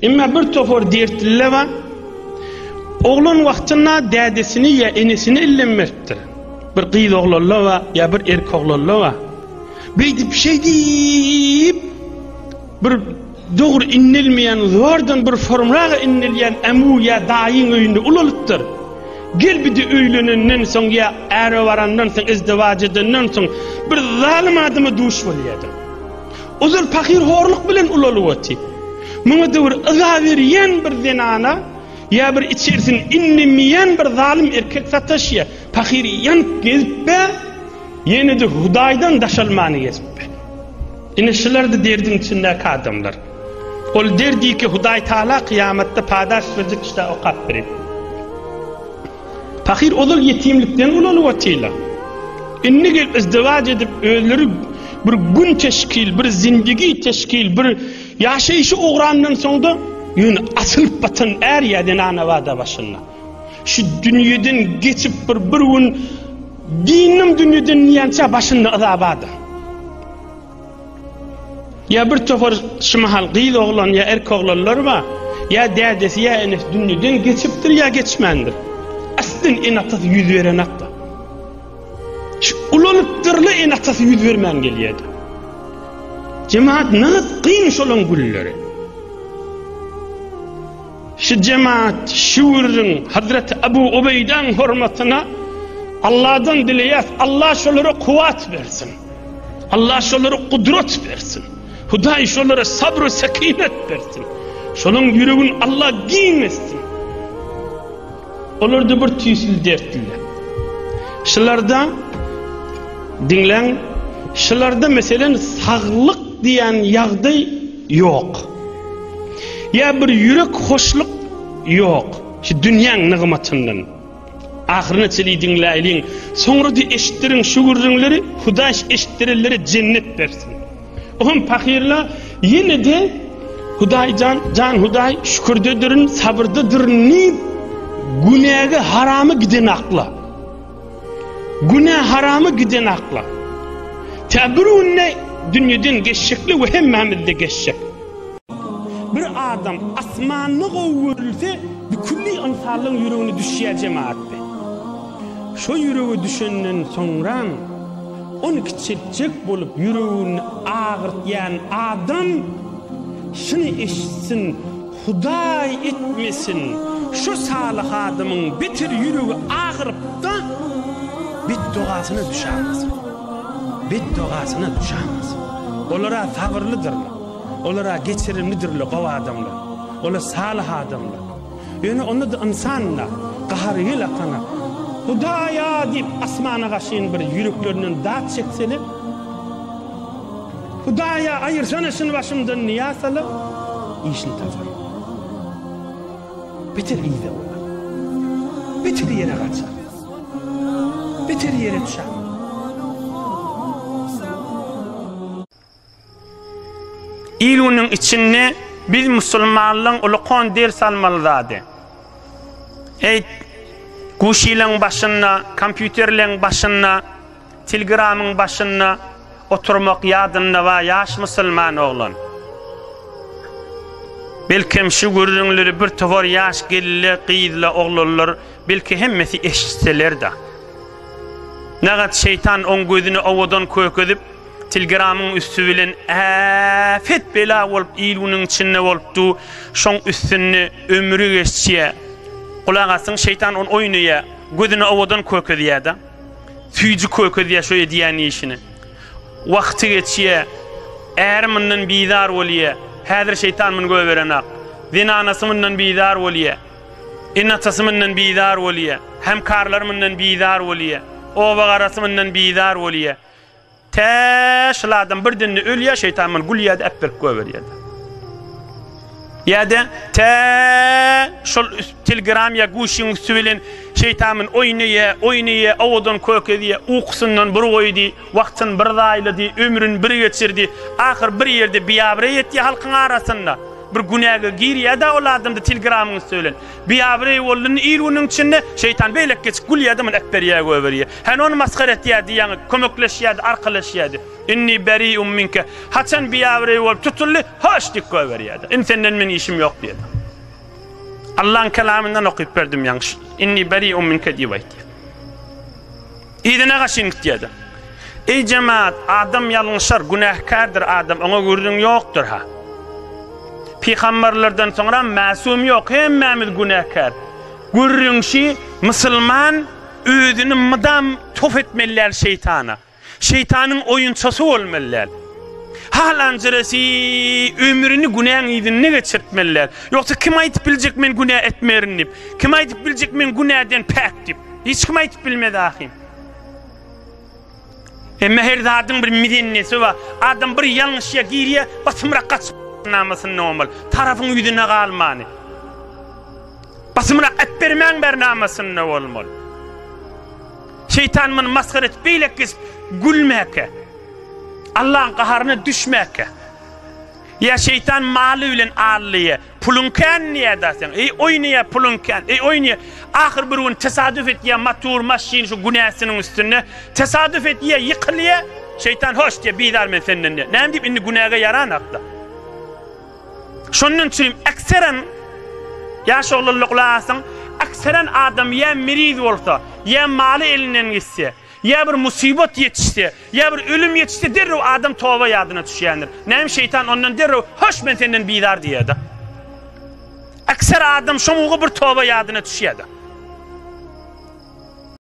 Emma bir topar dertliler bar. Oglan wagtynda dädesini ýa enesini ellenmepdir. Bir gyz oglanlar bar ýa bir erkek oglanlar bar. Beýdip şeýdip bir dogry inlilmeýän zordan bir formraga inlilýän ämu ýa daýyň öýünde ulalypdyr. Gel bidi öýlenenden soň ýa äre barandan soň izdiwaç edenden soň bir zalym adama duş bolýardyň. Ozal pahyr horluk bilen ulalyp oty. Muňa döwür yza berýän bir zenana ýa bir içerisini inlemeýän bir zalym erkek sataşýa. Pahyr ýanyp gezipbe, ýene-de Hudaýdan daşalmany gezipbe. Ine şular-da derdiň içindäki adamlar. Ol derdiki Hudaý Taala kyýamatda padaş berjek kişidä okap berer. Pahyr ozal ýetimlikden ulanyp otyrlar. Indi gelip izdiwaç edip özleri bir gün teşkil, bir zindigi teşkil, bir ýaşaýşy ugrandan soňda ýöne asylyp batan är ýa zenana bada başynda. Şu dünýeden geçip bir bir gün diýnim dünýeden diýençä başynda yza bada. Ýa bir topar şu mahal gyz oglan ýa erk oglanlar bar, ýa dädesi ýa enesi dünýeden geçipdir ýa geçmändir. Aslyn ene-atasy ýüz berenakda. Şu ulanypdyrly ene-atasy ýüz bermän gelýärdi. Jemaat nagt gyn şolaň gülleri. Şu jemaat şu ürün Hazreti Abu Ubeýdan hormatyna Allah'dan dileyas, Allah şolara kuvat versin. Allah şolara kudret bersin. Hudaý şolara sabr sekinet bersin. Şonuň ýüregini Allah giň etsin. Olarda bir tüýsül dertliler. Şularda diňläň, şularda meselen saglyk diýen ýagdaý ýok. Ýa bir ýürek hoşluk ýok. Şu dünýäň nygmatyndan. Ahyryna çenli diňläýliň. Soňra-da eşitdiriň şu gürrüňleri, Hudaý eşitdirenlere jennet bersin. O hem pahyryna ýene-de Hudaý jan, jan Hudaý şükürdedirin, sabyrdadyryn diýip, günäge harama giden akla. Günä harama giden akla. Tä bir günde dünýeden geçjekle we hemmämiz-de geçjek. Bir adam asmanda gowy görülse, bükülli ynsanlaň ýüregine düşýär jemagatda. Şo ýürege düşenden soňram, ony kiçeltjek bolup ýüregini agyrtýan adam şuny eşitsin, Hudaý etmesin, şo salyh adamyň beter ýüregi agyrypda, betdogasyna düşämasyn. Betdogasyna düşämasyn. Olar-a sabyrlydyrlar. Olar-a geçirimlidirler, gowy adamlar. Olar salyh adamlar. Ýöne onda-da ynsan-da, gahary gel akana, Hudaý-a! diýip, asmana gaşyn bir ýüreklerinden dat çekseler, Hudaý-a, aýyrsana şuny başymdan niýat salyp, işini tapar. Beter yza burar. Beter ýere gaçar. Beter ýere düşer. Il günüň içinde biz musulmanlaň ulukan ders almaly zady. Eý, guşileň başynda, kompýuterleň başynda, tilgramyň başynda oturmak ýadynda ba ýaş musulman oglan. Belkem şu gürrüňleri bir towar ýaş gelile, gyzla, oglanlar belki hemmesi eşitseler-de. Nagat şeýtan oň gözüni owadan kökezip, Tilgramyň üsti bilen äpet bela bolup il günüň içinde bolup du şoň üstünde ömri geçýä gulak asyň şeýtan on oýnaýa gözüni owadan kökezýäda süýji kökezýä şo edýän işini wagty geçýä äri mundan bizar bolýa häzir şeýtan muny göberenak zenanasy mundan bizar bolýa ene atasy mundan bizar bolýa hemkarlary mundan bizar bolýa oba garasy mundan bizar bolýa Tä, şul adam bir dünni ölýä, şeýtan muny gülýä-de äpberip goýberýä-de. Ýa-da, tä, şul Telegram ýa Guşyň üsti bilen şeýtan muny oýnaýa, oýnaýa, owadan kök edýä, ukusyndan bir goýdy, wagtyny bir zaýlady, ömrüni bir geçirdi, ahyr bir ýerde biabraý etýä halkyň arasynda. Bir günäge girýä-de ol adamda Telegramyň üsti bilen. Biabraý boldy, il-günüň içinde şeýtan beýlek geçip gülýä-de muny äpberýä goýberýä. Hany ony masgara etýärdi, ýaňy kömekleşýärdi, arkalaşýardy. Inni beri'un minke. Haçan biabireý bolup tutuldy, hoş diýip goýberýärdi. Indi senden meň işim ýok diýdi. Allaň kelamyndan okyp berdim ýaňy. Inni beri'un minke diýip aýtdy. Yzyna gaşyň git diýdi. Eý jemaat, adam ýalňyşar, günähkärdir adam, oňa gürrüň ýokdur ha. Pygamberlerden soňra mäsum ýok, hemmämiz günäkär. Gürrüňşi musulman Özüni mydam tof etmelidäl şeýtana. Şeýtanyň oýunçasy bolmalydäl. Halanjyrasy ömrüni günäň yzynda geçirtmelidäl. Ýogsa kim aýdyp biljek men günä etmerin diýip? Kim aýdyp biljek men günäden päk diýip? Hiç kim aýdyp bilmez ahym. Emma her zadyň bir mizennesi bar. Adam bir ýalňyşýa girýär, basymrak gaçyp namasyndan omal. Tarapyň ýüzüne galmany. Basymrak et bermäň ber namasynda bolmaly. Şeytan muny masgar edip beýlek geçip gülmäke. Allah'ın gaharyna düşmäke. Ya şeytan maly bilen allyýa, Puluň kän niyada seň. Eý oý niye puluň kän. Eý oý niye. Ahyr bir gün tesadüf etýä matur maşyn şu günäsiniň üstünde. Tesadüf etýä ýykylýä. Şeýtan hoş diýä bizar men senden diýä. Näme diýip indi günäge ýaran akda. Şondan üçin ekseren ýaş oglanlar gulak asyň. Ekseren adam ýa miriz bolsa, ýa maly elinden gitse, Ýa bir musibat ýetişse, ýa bir ölüm ýetişse derrew adam toba ýadyna düşýändir. Näme şeýtan ondan derrew hoş men senden bizar diýýäda. Ekser adam şoňugy bir toba ýadyna düşýäda.